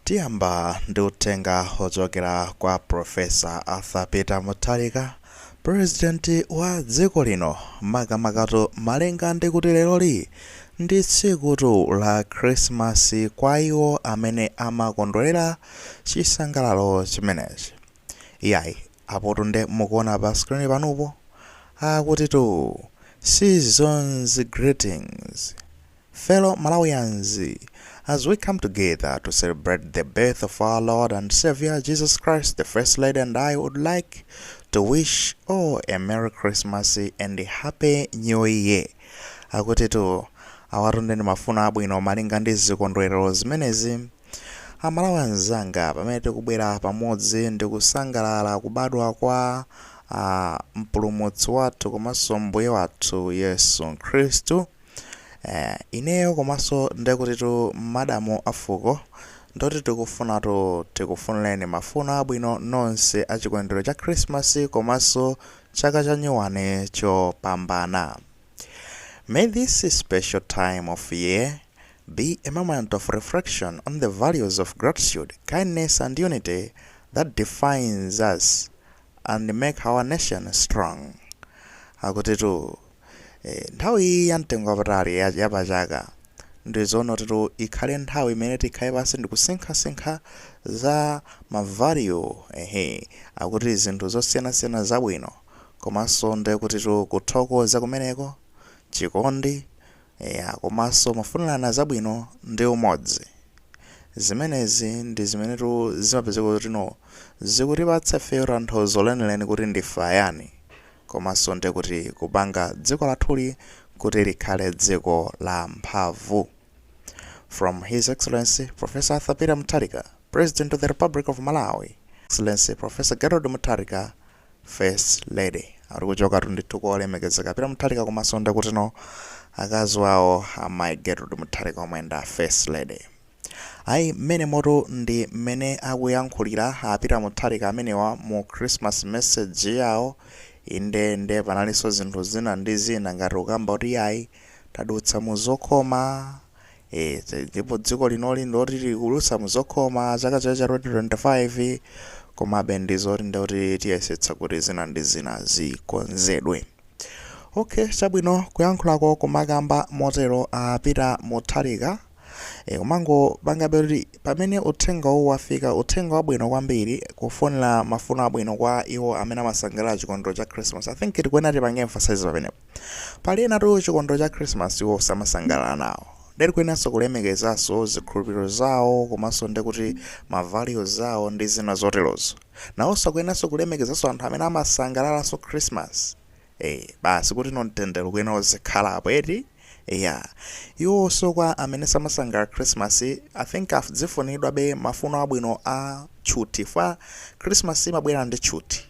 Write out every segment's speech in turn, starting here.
Tiyamba ndi uthenga ochokera kwa Prof. Arthur Peter Mutharika, President wa dziko lino, makamakatu malinga ndi kuti leroli ndi tsikutu la Christmas kwa iwo amene amakondwelera chisangalalo chimenechi. Iyayi, apotu nde mukuona pa screen panupo, akutitu Season's Greetings. Fellow Malawians, as we come together to celebrate the birth of our Lord and Savior Jesus Christ, the First Lady and I would like to wish all a Merry Christmas and a Happy New Year. Akutitu awatunde ndi mafuno abwino malinga ndi zikondwerero zimenezi. Amalawi anzanga pamene tikubwera pamodzi ndi kusangalala kubadwa kwa ah, mpulumutsi wathu komanso mbuye wathu Yesu Khristu. Eh, ineyo komanso ndekutitu madamu afuko ndoti tikufunatu tikufunireni mafuno abwino nonse a chikondwerero cha Christmas komanso chaka cha nyuwani chopambana. May this special time of year be a moment of reflection on the values of gratitude, kindness and unity that defines us and make our nation strong. Akutitu Nthawi iyi ya mtengo wapatali ya pa chaka ndizonotitu ikhale nthawi imene tikhale pansi ndikusinkhasinkha za ma value ehe akuti zinthu zosiyanasiyana zabwino komanso ndekutitu kuthokoza kumeneko, chikondi eya komanso mafunirana zabwino ndi umodzi. Zimenezi ndi zimenetu zimapezeka kuti no zikutipatsa ifeyo tanthauzo lenileni kuti ndife ayani komanso ndi kuti kupanga dziko lathuli kuti likhale dziko la mphamvu From His Excellency Professor Arthur Peter Mutharika, President of the Republic of Malawi, Excellency Professor Gertrude Mutharika, First Lady. Akuti kuchokatu ndithu kwa olemekezeka Peter Mutharika komanso ndi kutino akazi wawo amayi Gertrude Mutharika omwe ndi a First Lady. Ayi mmenemotu ndi mmene akuyankhulira a Peter Mutharika amenewa mu Christmas message yawo. Inde nde panalinso zinthu zina ndi zina ngati kukamba kuti iyayi tadutsa mu zokhoma, eh, ti- ndipo dziko linoli ndiloti likudutsa mu zokhoma chaka chino cha 2025 komabe ndi zoti nde kuti tiyesetsa kuti zina ndi zina zikonzedwe. Okay, chabwino kuyankhulako kumakamba motero a Peter Mutharika. E, kumangopangabe eti pamene uthenga uwu wafika uthenga wabwino kwambiri kufunira mafuno abwino kwa iwo amene amasangalala chikondwerero cha christmas i think tikuyenera tipange emphasize pamenepo pali enatu chikondwerero cha christmas iwo samasangalala nawo nde tikuyeneranso kulemekezanso zikhulupiriro zawo komanso ndi kuti ma values awo ndi zina zoterozo nawonso akuyeneranso kulemekezanso anthu amene amasangalalanso christmas e, basi kuti no mtendere ukuyenera uzikhalapo eti Eya. Iwowonso kwa amene samasangalala Christmas, I think azifuniridwabe mafuno abwino a tchuthi chifukwa Christmas imabwera ndi tchuthi.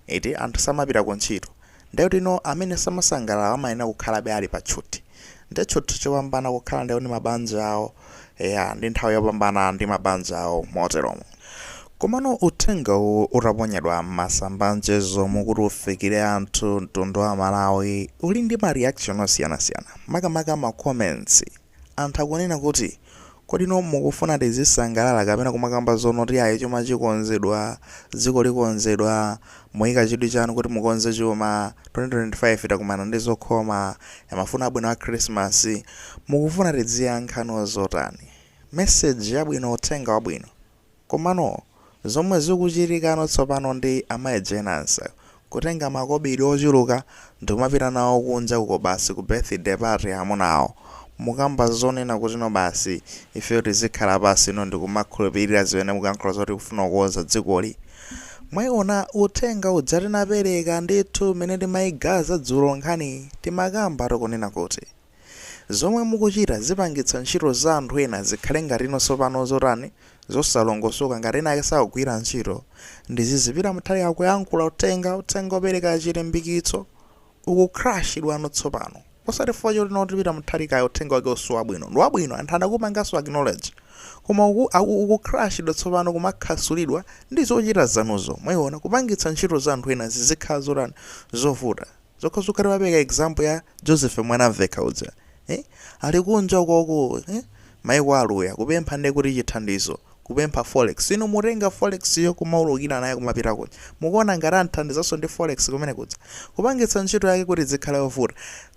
Eti, anthu samapita ku ntchito. Ndiye kuti no amene samasangalala amayenera kukhalabe ali pa tchuthi. Ndiye tchuthi chopambana kukhala ndi mabanja awo. Eya, ndi nthawi yopambana ndi mabanja awo moteromo. Komano uthenga uwu utaponyedwa m'masamba a mchezomu kuti ufikire anthu, mtundu wa Amalawi uli ndi ma reaction osiyanasiyana, makamaka ma comments. Anthu akunena kuti, Kodi no mukufuna tizisangalala kapena kumakamba zonena kuti ayi chuma chikonzedwa, dziko likonzedwa, Muika chidwi chanu kuti mukonze chuma, 2025 takumana ndi zokhoma ya mafuno abwino a Khrisimasi, mukufuna tidziyankha no zotani? Message yabwino uthenga wabwino. Komano zomwe zikuchitika no tsopano ndi Amayi Jane Ansah kutenga makobidi ochuluka ndikumapita nawo kunja uko basi ku birthday party ya amuna awo. Mukamba zonena kuti no basi ifeyo tizikhala pansi no ndikumakhulupilira zimene mukuyankhula zoti kufuna kukonza dzikoli. Mwaiona uthenga uja tinapereka ndithu mmene timaigaza dzulo nkhaniyi timakamba tikunena kuti zomwe mukuchita zipangitsa ntchito za anthu ena zikhale ngati no tsopano zotani zosalongosoka ngati ena ake sakugwira ntchito ndiye zizipita Mutharika akuyankhula uthenga uthenga opereka chilimbikitso Uku crush idwano tsopano. Osati chifukwa choti no a Peter Mutharika ayi uthenga wawowo siwabwino. Ndi wabwino anthu anaupanganso acknowledge. Koma uku, aku, uku crush idwa tsopano kumakhasulidwa ndi zochita zanuzo. Mwaiona? Kupangitsa ntchito za anthu ena zizikhala zotani? Zovuta. Zomwezo timapereka example ya Joseph Mwanamvekha uja. eh? ali kunja ukoko eh? maiko aluya kupempha nde kuti chithandizo kupempha forex inu mutenga forex yo kumaulukira nayo kumapita kuja mukuona ngati amuthandizanso ndi forex kumene kuja kupangitsa ntchito yake kuti izikhala yovuta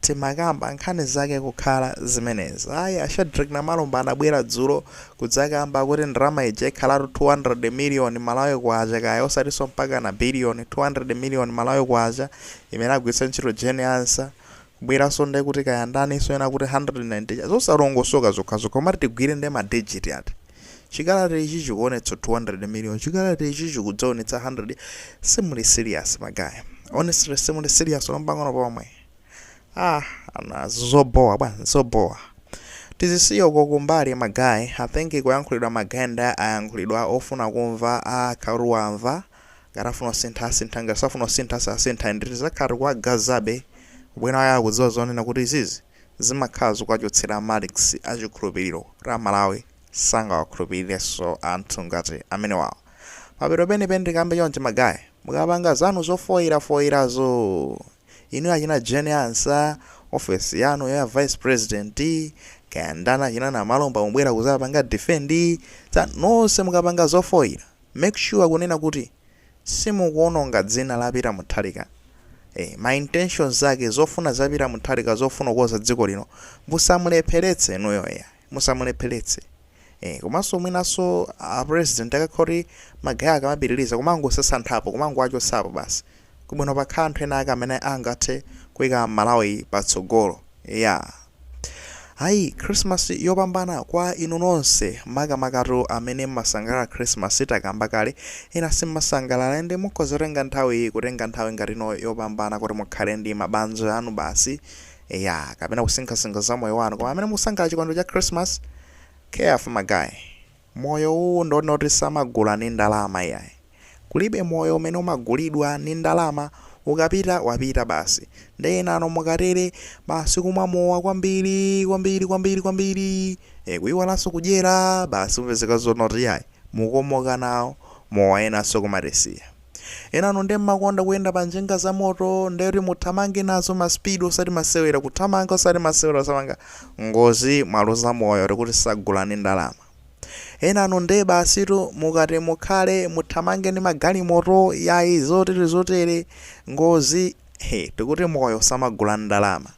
timakamba nkhani zake kukhala zimenezi ayi a Shadric Namalomba anabwera dzulo kudzakamba kuti ndalama ija ikhalatu 200 miliyoni malawi kwacha kaya osatinso mpaka na biliyoni 200 miliyoni malawi kwacha imene agwiritsa ntchito Jane Ansah kubweranso nde kuti kaya ndani soena kuti 190 zosalongosoka zokhazokha komati tigwire nde ma digit ati chikalata ichi chikuonetsa 200 million chikalata ichi chikudzaonetsa 100 simuli serious magayi honestly simuli serious mpang'ono pomwe ah ana zobowa bwana zobowa tizisiya uko kumbali magayi i think kuyankhulidwa magayi nde ayankhulidwa ofuna kumva akhala amva Ngati afuna kusintha asintha ngati safuna kusintha sasintha and tizakhala tikuwagazabe ubwino wake akudziwa zonena kuti izizi zimakhala zikuwachotsera marks a chikhulupiliro kuti a Malawi sangawakhulupilirenso anthu ngati amenewawa. Mapeto enieni tikambe chonchi ma guy mukapanga zanu zofoira foirazo inuyo achina Jane Ansah, office yanuyo ya vice president, kaya ndani achina Namalomba mubwera kuzapanga defend za nonse mukapanga zofoira Make sure kunena kuti simukuononga dzina la Peter Muthalika ee ma intentions zake zofuna za Peter Muthalika zofuna kukonza dziko lino musamulepheletse inuyo iya musamulepheletse ee komanso mwinanso a president akakhala kuti ma guy akamapitiliza kumangowasasanthapo kumangowachotsapo basi kuli bwino pakhale anthu ena ake amene angathe kuika malawi patsogolo iyaa ayi christmas yopambana kwa inu nonse makamakatu amene mmasangalala christmas takamba kale ena simmasangalala nde mukhoza kutenga nthawi iyi kutenga nthawi ngati ino yopambana kuti mukhale ndi mabanja anu basi eya kapena kusinkhasinkha za moyo wanu koma amene mukusangalala chikondwero cha christmas careful ma guy Moyo uwu ndi wonoti samagula ni ndalama iyayi. Kulibe moyo umene umagulidwa ni ndalama, ukapita wapita basi. Nde enanu mukatere, basi kumwa mowa kwambiri, kwambiri, kwambiri, kwambiri, eh, kuiwalanso kudyera, basi mupezeka zonoti iyayi, mukomoka nawo mowa enanso kumatisiya. Enanu nde mmakonda kuyenda pa njinga za moto nde kuti muthamange nazo ma speed osati masewera kuthamanga osati masewera mwapanga ngozi mwaluza moyo tikuti sagula ndi ndalama. Enanu nde basitu mukati mukhale muthamange ndi magalimoto yayi zotere zotere ngozi he tikuti moyo samagula ndi ndalama.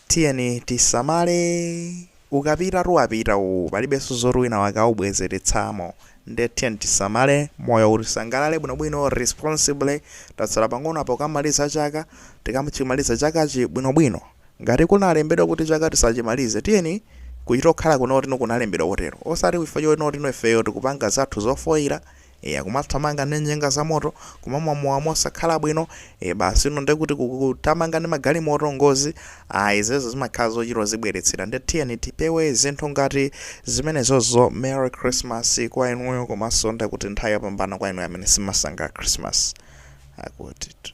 Tiyeni tisamale. Ukapitatu wapita uwu, palibenso zoti winawake aubwezeretsamo. Ndiye tiyeni tisamale moyowu tisangalale bwinobwino responsibly. Tatsala pang'ono apa kukamaliza chaka, tikachimalize chakachi bwinobwino. Ngati kunalembedwa kuti chaka tisachimalize, tiyeni kuchitokhala kunoti kunalembedwa kotero. Osati chifukwa chonoti ifeyo tikupanga zathu zofoira, Eya kumathamanga ndi njinga zamoto, kumamwa mowa mosakhala bwino, e basi inu nde kuti kuthamanga ndi magalimoto, ngozi, ayi izezo zimakhala zochita kuzibweretsera nde tiyeni tipewe zinthu ngati zimenezozo, Merry Christmas kwa inuyo komanso nde kuti nthawi yopambana kwa inuyo amene simmasangalala Christmas akutitu.